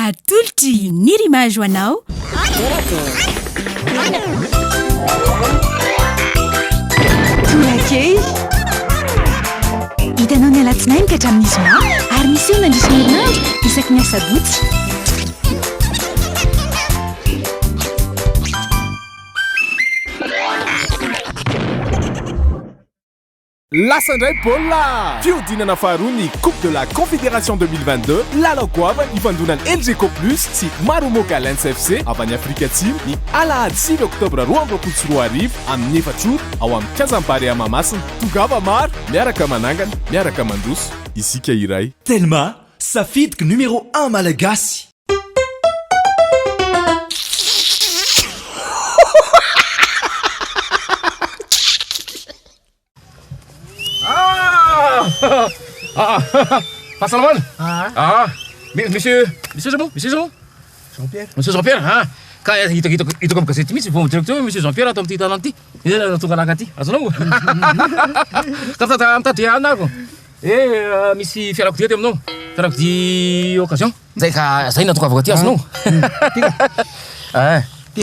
Atolotry ny Rimage ho anao. Tolakely. Hitanao ny alatsinainy ka hatramin'ny zoma ary miseho mandritra ny herinandro isaky ny asabotsy. Lasa indray baolina! Fihodinana faharoa ny Coupe de la Confédération deux mille vingt deux, lalao goavana ifandonan'ny Elgeco Plus sy Marumo Gallants FC avy any Afrika Atsimo, ny alahady sivy oktobra roa amby roapolo sy roa arivo, amin'ny efatra ora, ao amin'ny Kianjan'ny Barea Mahamasina. Tongava maro, miaraka manangana, miaraka mandroso, isika iray. Telma, safidiko numéro un malagasy. Fahasalamana. Ah. Ah. Misy misy misy iza moa? Misy iza moa? Jean Pierre. Misy Jean Pierre ha. Ka hitako hitako hitako amin'ny gazety mihitsy vao directeur misy Jean Pierre ato amin'ity tanana ity. Iza no tonga laka aty? Azonao? Ka tata mitady anako. Eh misy fiarakodia aty aminao. Fiarakodia occasion. Zay ka zay na tonga avy aty azonao. Ty.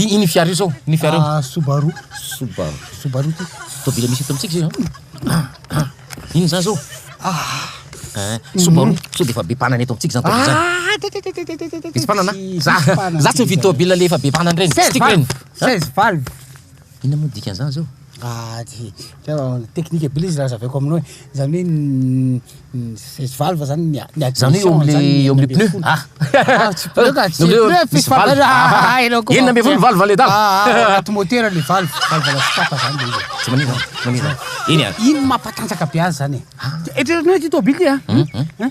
Iny fiara io sao? Iny fiara io. Ah, Subaru. Subaru. Subaru ty. Tobile misy eto amintsika zay. Iny zany sao? Ah. Eh, Subaru, mm. so dia efa be mpanana eto amintsika zany tobile zany. Ah, Misy mpanana? Za, za tsy mividy tobile le efa be mpanana reny. Tsy tiako reny. 16 valve. Inona moa ny dikan'izany zao? Ah, teknika be le izy raha hazavaiko aminao e. Izany hoe ny seize valves zany ny ny admission. Izany hoe eo amin'ny pneu? Ah! Ah, tsy pneu ka, tsy pneu, misy valve. Ah, ianao koa. Enina ambin'ny folo valve le dago. Ah, ah, anaty motera le valve, valve la sopapa zany le izy. Tsy manina, tsy manina. Eny an. Iny mampatanjaka be azy zany e. Eritreretinao ity tôbily ty a.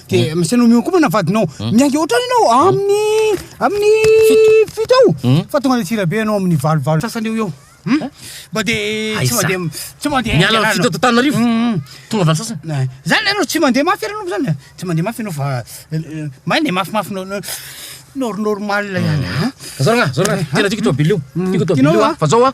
de hmm. misy anao mihoankomana vadinao hmm. miainga ohatrany ianao hmm. amin'ny amin'ny fito ao fa tonga le tsirabe ianao amin'ny valovalo sasany eo eo mba de tsy mande tsy mande miala amin'ny fito tanarivo tonga valo sasany eh, zany ianao tsy mande mafy ianao zany eh. tsy mande mafy ianao fa eh, maina e mafimafy nao nor normal ihany zoragna zoragna tena tiko toa bilio tiko toa bilio fa zao a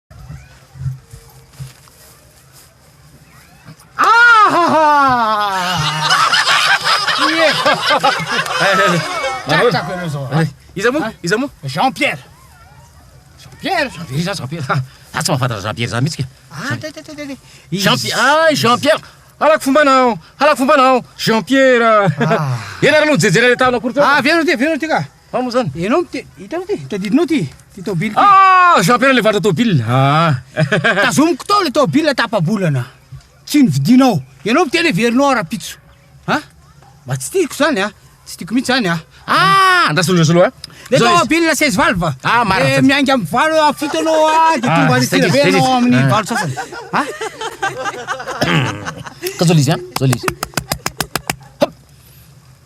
Iza moa? Iza moa? Jean Pierre. Jean Pierre. Jean Pierre iza Jean Pierre? Ha, za tsy mahafantatra Jean Pierre za mihitsy ka. Ah, te te te te. Jean Pierre. Ah, Jean Pierre. Halako fomba nao. Halako fomba nao. Jean Pierre. Ianareo aloha jejera le tahona akory teo. Ah, avy eo ty, avy eo ty ka. Ao moa zany. Ianao mite, hitanao ty, tadidinao ty, ty tôbily ty. Ah, Jean Pierre le varotra tôbily. Ah. Tazomiko tao le tôbily tapa-bolana. Tsy nividinao. Ianao mite le verinao ara-pitso. Ha? Mba tsy tiako zany ah. Tsy tiako mihitsy zany ah. Ah, andraso le solo ah. Le tôbily seize valve. Ah, marina. Eh, miainga amin'ny valo ah, fito anao ah, de tonga any sira be anao amin'ny valo sasany. Ha? Ka zao le izy ah, zao le izy.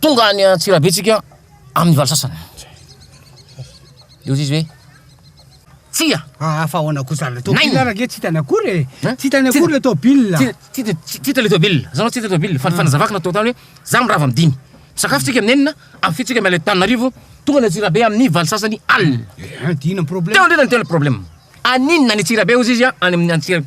Tonga any Antsirabe tsika amin'ny valo sasany. Dia hoy izy hoe Tsia! Ah, ah fa ahoana kosa le tobile Naina. rage tsy hitany akory e. Hein? Tsy hitany akory le tobile. Ti- ti- ti- ti- Tita le tobile, zanao tita le tobile, fa fanazavako natao tany hoe za mirava amin'ny dimy. Sakafo tsika amin'ny enina, amin'ny fito tsika miala eto Tananarivo, tonga any Antsirabe amin'ny valo sasany alina. Eh, Dina problème. Teo indrindra ny tena problème. Aninona any Antsirabe hozy izy a, any amin'ny Antsirabe.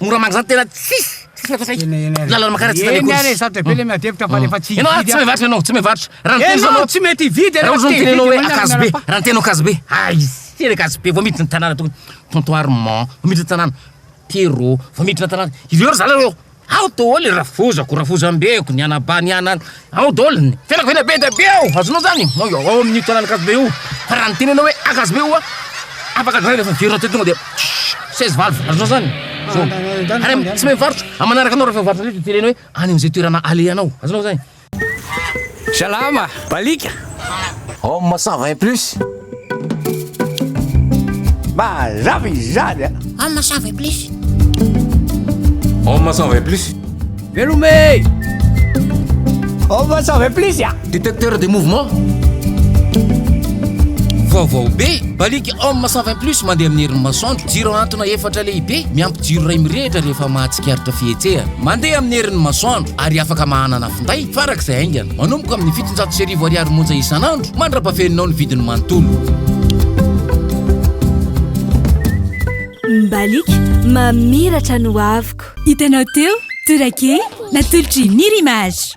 Mora mangina zany tena tsisy tsisy atao saika. Lalana makara tsy tany akory. Sarotra be le miadevitra fa rehefa tsy hividy. Ianao tsy mivarotra ianao, tsy mivarotra. Raha ny tena ianao tsy mety hividy ianao. Raha ny tena ianao hoe akazo be, raha ny tena ianao akazo be. Aiza le akazo be vao miditra ny tanàna tokony. Tonton Armand vao miditra ny tanàna. Pierrot vao miditra ny tanàna. Ireo ry zalahy ireo. Ao doholy rafozako, rafozambeko, ny anabany, ny ana, ao doholy ny. Fianako tena be dia be ao, azonao zany? Ao ao amin'io tanàn'Ankazobe io, fa raha ny tenenao hoe Ankazobe io an, afaka dray rehefa very rahateo tonga dia seize valve, azonao zany? Zao. Ary tsy mivarotra, manaraka anao rehefa mivarotra indray dia teneno hoe any amin'izay toerana alehanao, azonao zany? Salama! Balika! Homme 120 plus. Mazava izany a! Homme 120 plus. Homme 120 plus. Velome! Homme 120 plus a! Détecteur de mouvement. Vaovao be! Balika Homme 120 plus mandeha amin'ny herin'ny masoandro. Jiro antona efatra lehibe miampy Jiro iray mirehitra rehefa mahatsikaritra fihetsehana. Mandeha amin'ny herin'ny masoandro ary afaka mahanana finday farak'izay haingana. Manomboka amin'ny fitonjato sy arivo ariary monja isan'andro mandra-pafeninao ny vidiny manontolo. Mbaliaka mamiratra ny hoaviko. Hitanao teo, Torak'E, natolotry Nir Image.